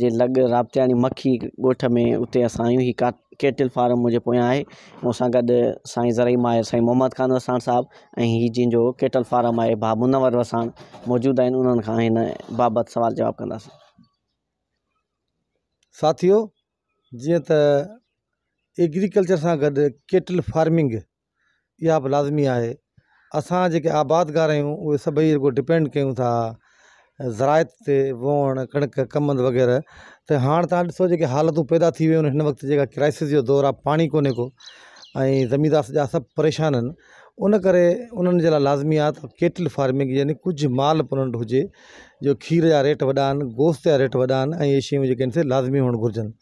جي لڳ رابطياڻي مکي ڳوٺ ۾ اتي اسان آهيون هي ڪا ڪيٽل فارم منهنجي پويان آهي مون سان گڏ سائين زرعي ماهر سائين محمد خان وساڻ صاحب ۽ هي جن جو ڪيٽل فارم آهي بابو منور وساڻ موجود آهن انهن کان هن بابت سوال جواب ڪنداسين ساٿيو جيئن ته ايگريڪلچر سان گڏ ڪيٽل فارمنگ اها به لازمي آهي اسان جيڪي آبادگار آهيون اهي سڀئي رڳو ڊپينڊ ڪيون ٿا زراعت تي ووڻ ڪڻڪ ڪمند وغيره ته هاڻ تان ڏسو جيڪي حالتون پيدا ٿي ويون آهن هن وقت جيڪا ڪرائسز جو دور آهي پاڻي ڪونهي ڪو ۽ زميندار سڄا سڀ پريشان آهن ان ڪري انهن جي لاء لازمي آهي ته ڪيٽل فارمنگ يعني ڪجهه مال به انهن وٽ هجي جو کير جا ريٽ وڏا آهن گوشت جا ريٽ وڏا آهن ۽ اهي شيون جيڪي آهن سي لازمي هئڻ گهرجن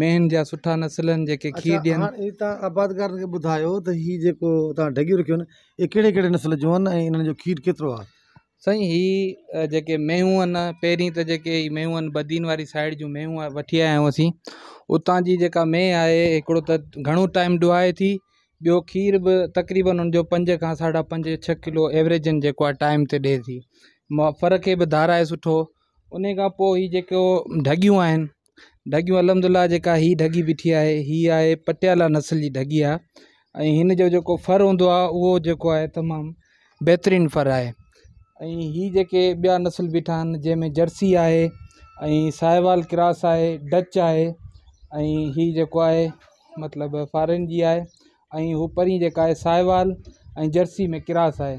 مينهن جا سٺا نسل آهن جيڪي کير ڏين. اڇا هاڻ تان آبادگارن کي ٻڌايو ته هي جيڪو تان ڍڳيون رکيون آهن اهي ڪهڙي ڪهڙي نسل جون آهن ۽ انهن جو کير ڪيترو آهي. سائين هي جيڪي مينهون آهن پهرين ته جيڪي هي مينهون آهن بدين واري سائيڊ جون مينهون آهن وٺي آيا آهيون اسين اتان جي جيڪا مينهن آهي هڪڙو ته گهڻو ٽائيم ڊوهائي ٿي ٻيو کير به تقريبن ان جو پنج کان ساڍا پنج ڇهه ڪلو ايوريجن جيڪو آهي ٽائيم تي ڏي ٿي م ڦر کي به ڌارائي سٺو انهي کان پوء هي جيڪو ڍڳيون آهن ڍڳيون الحمدلله جيڪا هي ڍڳي بيٺي آهي هي آهي پٽيالا نسل جي ڍڳي آهي ۽ هن جو جيڪو ڦر هوندو آهي اهو جيڪو آهي تمام بهترين ڦر آهي ۽ هي جيڪي ٻيا نسل بيٺا آهن جنهن ۾ جرسي آهي ۽ ساهيوال ڪراس آهي ڊچ آهي ۽ هي جيڪو آهي مطلب فارين جي آهي ۽ هو پرين جيڪا آهي ساهيوال ۽ جرسي ۾ ڪراس آهي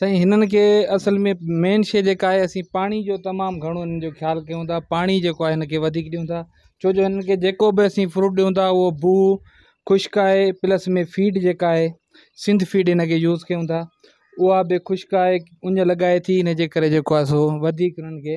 سائين هنن کي اصل ۾ مين شيء جيڪا آهي اسين پاڻي جو تمام گهڻو هنن جو خيال ڪيون ٿا پاڻي جيڪو آهي هن کي وڌيڪ ڏيون ٿا ڇو جو هنن کي جيڪو به اسين فروٽ ڏيون ٿا هو بو خشڪ آهي پلس ۾ فيڊ جيڪا آهي سنڌ فيڊ هن کي يوز ڪيون ٿا اها به خشڪ آهي اڃ لڳائي ٿي هن جي ڪري جيڪو آهي سو وڌيڪ هنن کي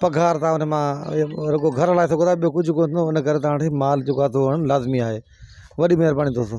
پگهار تان ان مان رڳو گهر هلائي سگهو ٿا ٻيو ڪجهه ڪونه ٿيندو ان ڪري تان وٽ مال جيڪو آهي سو هئڻ لازمي آهي وڏي مهرباني دوستو.